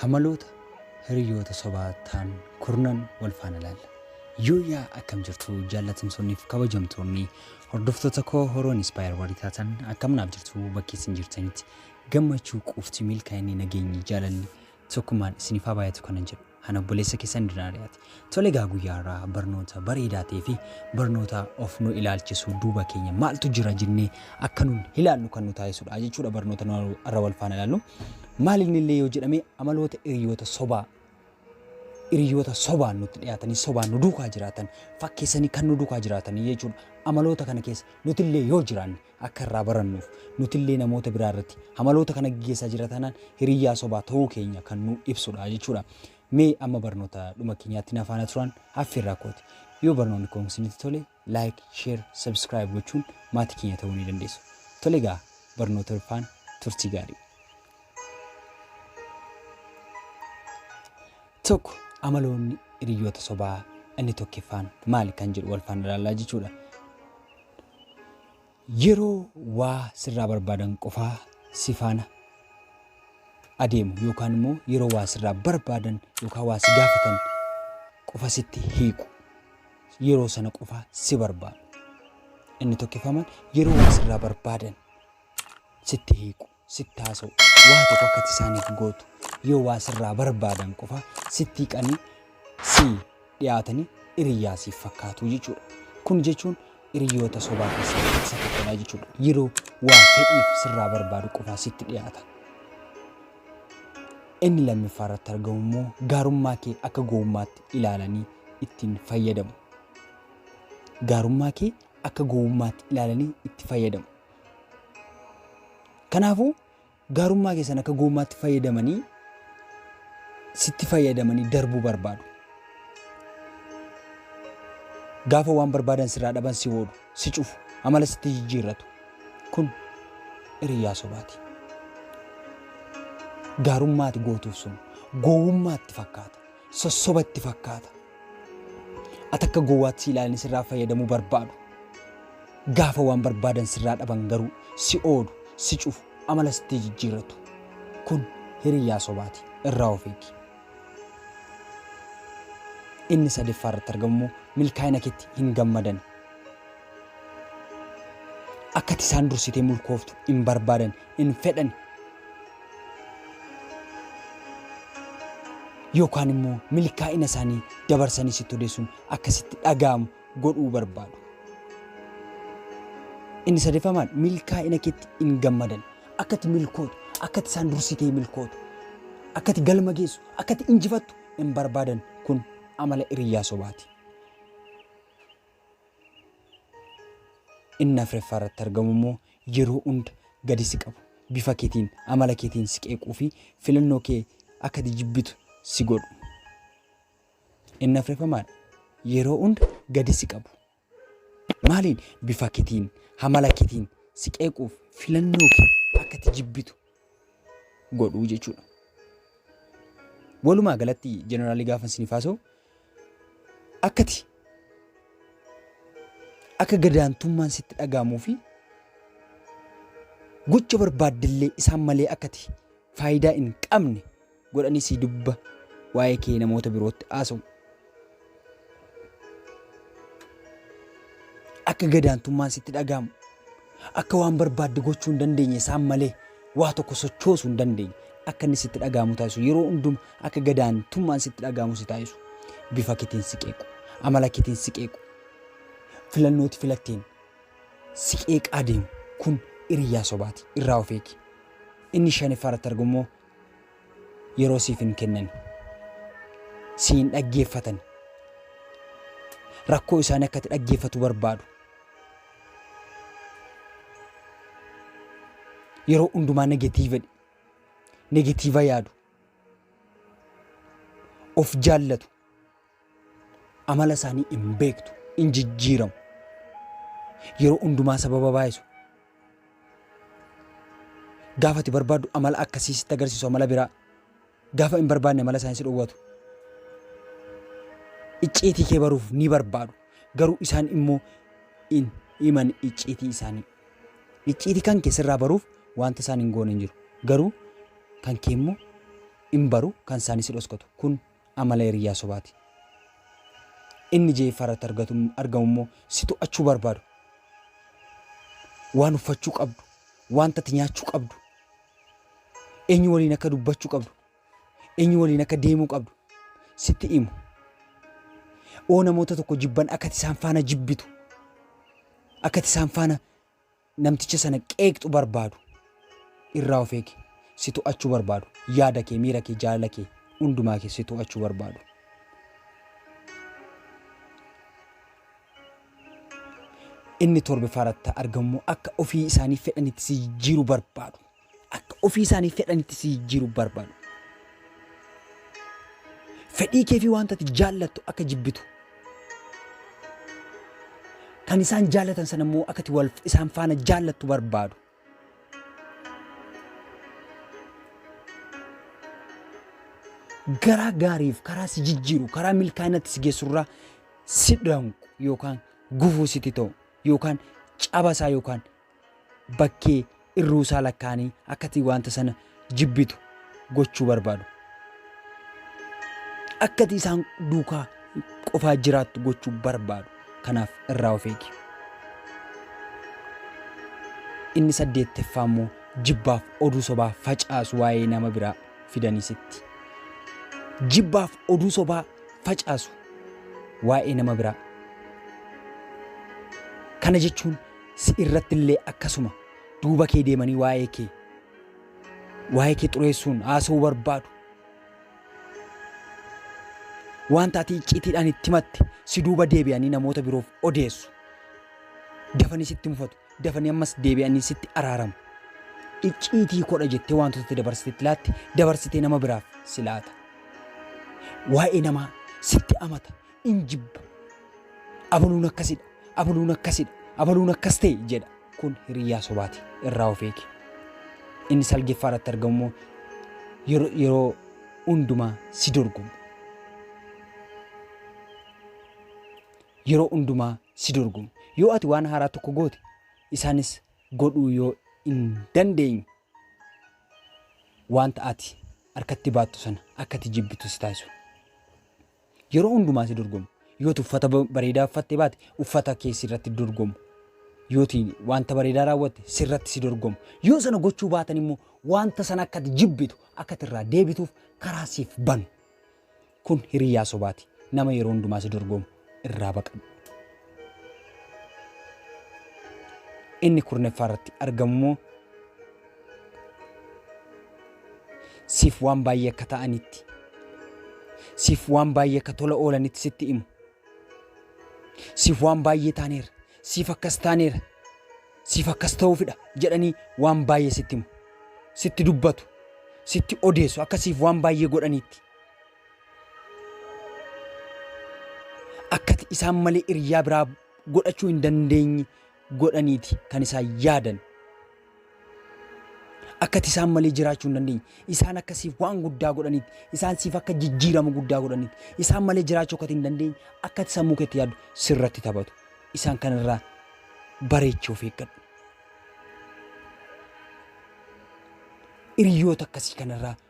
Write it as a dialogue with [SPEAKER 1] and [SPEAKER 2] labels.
[SPEAKER 1] Hamaloota hiriyoota sobaa ta'an kurnan wal faana ilaalla. Yooyaa akkam jirtu jaallatamtoonni fi kabajamtoonni hordoftoota koo horoon ispaayer warri taatan akkam naaf jirtu bakki isin jirtanitti Gammachuu, quufti, milkaa'inni, nageenyi, jaalalli, tokkummaan isiniif haa baay'atu kanan jedhu an obboleessa keessan Dinaariyaati. Tole egaa guyyaa har'aa barnoota bareedaa ta'ee fi barnoota of nu ilaalchisu duuba keenya maaltu jira jennee akka nun ilaallu kan nu taasisudha jechuudha barnoota nu har'a wal faana ilaallu. Maal innillee yoo jedhame amaloota hiriyoota sobaa Hiriyoota sobaan nutti dhiyaatanii sobaan nu duukaa jiraatan fakkeessanii kan nu duukaa jiraatanii jechuudha. Amaloota kana keessa nutillee yoo jiraanne akka irraa barannuuf nutillee namoota biraa irratti amaloota kana gaggeessaa jira taanaan hiriyaa sobaa ta'uu keenya kan nu ibsudha jechuudha. Mee amma barnoota dhuma keenyaatti na faana turaan affeerraa kooti. Yoo barnoonni kun isinitti tole like, share, subscribe gochuun maati keenya ta'uu ni dandeessu. Tole egaa barnoota ulfaan turtii gaarii. Tokko amaloonni hiriyoota sobaa inni tokkiffaan maali kan jedhu walfaan ilaalaa jechuudha. Yeroo waa sirraa barbaadan qofa si faana adeemu yookaan immoo yeroo waa sirraa barbaadan yookaan waa si gaafatan qofa sitti hiiku. Yeroo sana qofa si barbaadu. Inni tokkiffaman yeroo waa sirraa barbaadan sitti hiiku. sitti haasa'u. Waa tokko akka ati isaaniif gootu yoo waa sirraa barbaadan qofa sitti hiqanii si dhiyaatanii hiriyyaa siif fakkaatu jechuudha. Kun jechuun hiriyyoota sobaa keessaa isa tokkodha jechuudha. Yeroo waa fedhiif sirraa barbaadu qofaa sitti dhiyaata. Inni lammiffaa irratti argamu immoo gaarummaa kee akka gowwummaatti ilaalanii ittiin fayyadamu. Gaarummaa kee akka gowwummaatti ilaalanii itti fayyadamu. Kanaafuu gaarummaa keessan akka goommaatti fayyadamanii sitti fayyadamanii darbuu barbaadu. Gaafa waan barbaadan sirraa dhaban si oolu, si cufu, amala sitti jijjiirratu. Kun hiriyaa sobaati. Gaarummaati gootuuf sun gowwummaatti fakkaata. sossoba itti fakkaata. Ati akka gowwaatti si ilaalanii sirraa fayyadamuu barbaadu. Gaafa waan barbaadan sirraa dhaban garuu si oodu, si cufu, amala sitti jijjiirratu. Kun hiriyaa sobaati. Irraa of eegi. Inni sadaffaa irratti argamu immoo milkaa'ina keetti hin gammadan. Akkati isaan dursitee mulkooftu hin barbaadan, hin fedhan. Yookaan immoo milkaa'ina isaanii dabarsanii sitti odeessuun akkasitti dhaga'amu godhuu barbaadu. Inni sadeffamaan milkaa'ina keetti hin gammadan. Akkati milkootu, akkati isaan dursitee milkootu, akkati galma geessu, akkati injifattu hin barbaadan. Kun amala hiriyaa sobaati. Inni afraffaa irratti argamu immoo yeroo hunda gadi si qabu, bifa keetiin, amala keetiin si qeequu fi filannoo kee akka ati jibbitu si godhu. Inni afraffaa maali? Yeroo hunda gadi si qabu. Maaliin? Bifa keetiin, amala keetiin si qeequuf filannoo kee akka ati jibbitu godhuu jechuudha. Walumaa galatti jeneraalii gaafa isiniif haasa'u akkati akka gadaantummaan sitti dhaga'amuu fi gocha barbaaddellee isaan malee akkati faayidaa hin qabne godhanii sii dubba waa'ee kee namoota birootti haasa'u. Akka gadaantummaan sitti dhaga'amu, akka waan barbaadde gochuu hin dandeenye isaan malee waa tokko sochoosu hin dandeenye akka inni sitti dhaga'amu taasisu yeroo hunduma akka gadaantummaan sitti dhaga'amu si taasisu bifa keetiin si qeequ, amala keetiin si qeequ, filannooti filatteen si qeeqaa deemu kun hiriyaa sobaati irraa of eegi. Inni shaniffaarratti argamu immoo yeroo siif hin kennani. Si hin dhaggeeffatani. Rakkoo isaanii akka itti dhaggeeffatu barbaadu. Yeroo hundumaa negatiivedha. Negatiiva yaadu. Of jaallatu. Amala isaanii hin beektu, hin jijjiiramu. Yeroo hundumaa sababa baay'isu. Gaafa ati barbaaddu amala akkasii sitti agarsiisu amala biraa. Gaafa hin barbaadne amala isaanii si dhowwatu. Icciitii kee baruuf ni barbaadu. Garuu isaan immoo hin himan icciitii isaanii. Icciitii kan kee sirraa baruuf wanta isaan hin goone hin jiru. Garuu kan kee immoo hin baru kan isaanii si dhoskatu. Kun Amala hiriyyaa sobaati. Inni ja'effaa irratti argatu, argamu immoo si to'achuu barbaadu. Waan uffachuu qabdu, wanta ati nyaachuu qabdu, eenyu waliin akka dubbachuu qabdu, eenyu waliin akka deemuu qabdu sitti himu. Oo namoota tokko jibban akka ati isaan faana jibbitu, akka ati isaan faana namticha sana qeeqxu barbaadu irraa of eegi. Si to'achuu barbaadu. Yaada kee, miira kee, jaalala kee, hundumaa kee si to'achuu barbaadu. Inni torbefaarratti argamu akka ofii isaanii fedhanitti si jijjiiru barbaadu. Akka ofii isaanii fedhanitti si jijjiiruu barbaadu. Fedhii kee fi wanta ati jaallattu akka jibbitu. Kan isaan jaallatan sana immoo akka ati wal isaan faana jaallattu barbaadu. Garaa gaariif karaa si jijjiiru, karaa milkaa'inatti si geessu irraa si dhanqu yookaan gufuu sitti ta'u yookaan cabasaa yookaan bakkee irruusaa lakkaa'anii akka ati wanta sana jibbitu gochuu barbaadu. Akka ati isaan duukaa qofaa jiraattu gochuu barbaadu. Kanaaf irraa of eegi. Inni saddeettaffaa immoo jibbaaf oduu sobaa facaasu waa'ee nama biraa fidanii sitti. Jibbaaf oduu sobaa facaasu waa'ee nama biraa. Kana jechuun Si irratti illee akkasuma. Duuba kee deemanii waa'ee kee, waa'ee kee xureessuun haasawuu barbaadu. Wanta ati icciitiidhaan itti himatte si duuba deebi'anii namoota biroof odeessu. Dafanii sitti mufatu. Dafanii ammas deebi'anii sitti araaramu. Icciitii kodha jettee wantoota itti dabarsitee itti laatte dabarsitee nama biraaf si laata. Waa'ee namaa sitti amata. in jibba. Abaluun akkasidha. Abaluun akkasidha. Abaluun akkas ta'e jedha. Kun hiriyyaa sobaati. Irraa of eegi. Inni salgeffaa irratti argamu immoo yeroo yeroo hundumaa si dorgomu. Yeroo hundumaa si dorgomu. Yoo ati waan haaraa tokko goote isaanis godhuu yoo hin dandeenye wanta ati harkatti baattu sana akka ati jibbitu si taasisu. Yeroo hundumaa si dorgomu. Yooti uffata ba- bareedaa uffattee baate uffata kee sirratti dorgomu. Yooti wanta bareedaa raawwatte sirratti si dorgomu. Yoo sana gochuu baatan immoo wanta sana akka ati jibbitu akka ati irraa deebituuf karaa siif banu. Kun hiriyaa sobaati. Nama yeroo hundumaa si dorgomu irraa baqadhu. Inni kurnaffaa irratti argamu immoo siif waan baay'ee akka ta'anitti, siif waan baay'ee akka tola oolanitti sitti himu. Siif waan baay'ee taaneera, siif akkas taaneera, siif akkas ta'uufidha jedhanii waan baay'ee sitti himu. Sitti dubbatu, sitti odeessu akka siif waan baay'ee godhaniitti. akkati isaan malee iryaa biraa godhachuu hin dandeenye godhaniiti kan isaan yaadan. Akkati isaan malee jiraachuu hin dandeenye. Isaan akka siif waan guddaa godhaniiti. Isaan siif akka jijjiirama guddaa godhaniiti. Isaan malee jiraachuu akkati hin dandeenye akkati sammuu keetti yaadu sirratti taphatu. Isaan kanarraa bareechuu of eeggadhu. Hiriyoota akkasii kanarraa